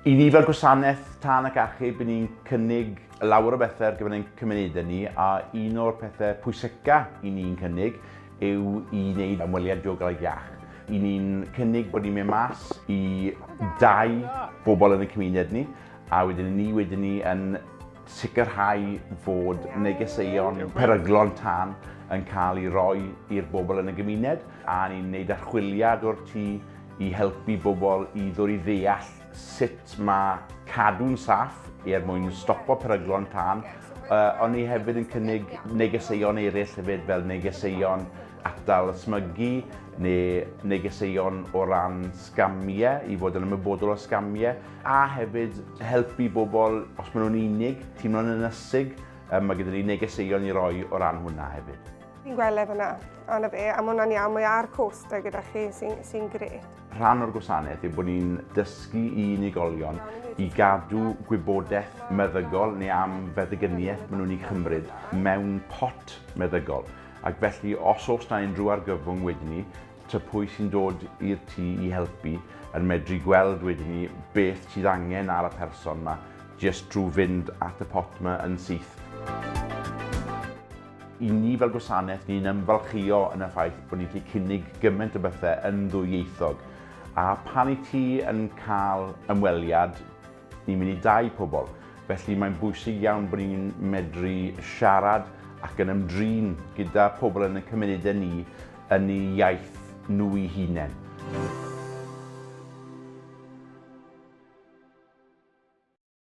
I ni fel gwasanaeth tân ac achub, i ni'n cynnig lawer o bethau ar gyfer ein cymunedau ni a un o'r pethau pwyseca i ni'n cynnig yw i wneud ymweliad diogelaidd iach. I ni'n cynnig bod ni'n mynd mas i dau bobl yn y cymuned ni a wedyn ni wedyn ni yn sicrhau fod negeseuon peryglon tân yn cael ei roi i'r bobl yn y gymuned, a ni'n gwneud archwiliad o'r tu i helpu bobl i ddod i ddeall sut mae cadw'n saff er mwyn stopo peryglon tân, ond ni hefyd yn cynnig negeseuon eraill hefyd fel negeseuon atal ysmygu neu negeseuon o ran sgamiau, i fod yn ymwybodol o sgamiau. a hefyd helpu bobl os maen nhw'n unig, teimlo'n ynysig, um, mae gyda ni negeseuon i roi o ran hwnna hefyd. Fi'n gweld e fyna, a na fe, a mae hwnna'n iawn, mae ar costa gyda chi sy'n sy gret. Rhan o'r gwasanaeth yw bod ni'n dysgu i unigolion i gadw gwybodaeth meddygol neu am feddygyniaeth maen nhw'n ei chymryd mewn pot meddygol. Ac felly, os oes na unrhyw argyfwng wedyn ni, Tŷ pwy sy'n dod i'r tŷ i helpu yn medru gweld wedyn ni beth sydd angen ar y person ma jyst trwy fynd at y pot ma yn syth. I ni fel gwasanaeth ni'n ymfalchïo yn y ffaith bod ni'n gallu cynnig gymaint o bethe yn ddwyieithog a pan i ti yn cael ymweliad Ni'n mynd i dai pobl, felly mae'n bwysig iawn bod ni'n medru siarad ac yn ymdrin gyda pobl yn y cymunedau ni yn eu iaith nhw'i hunain.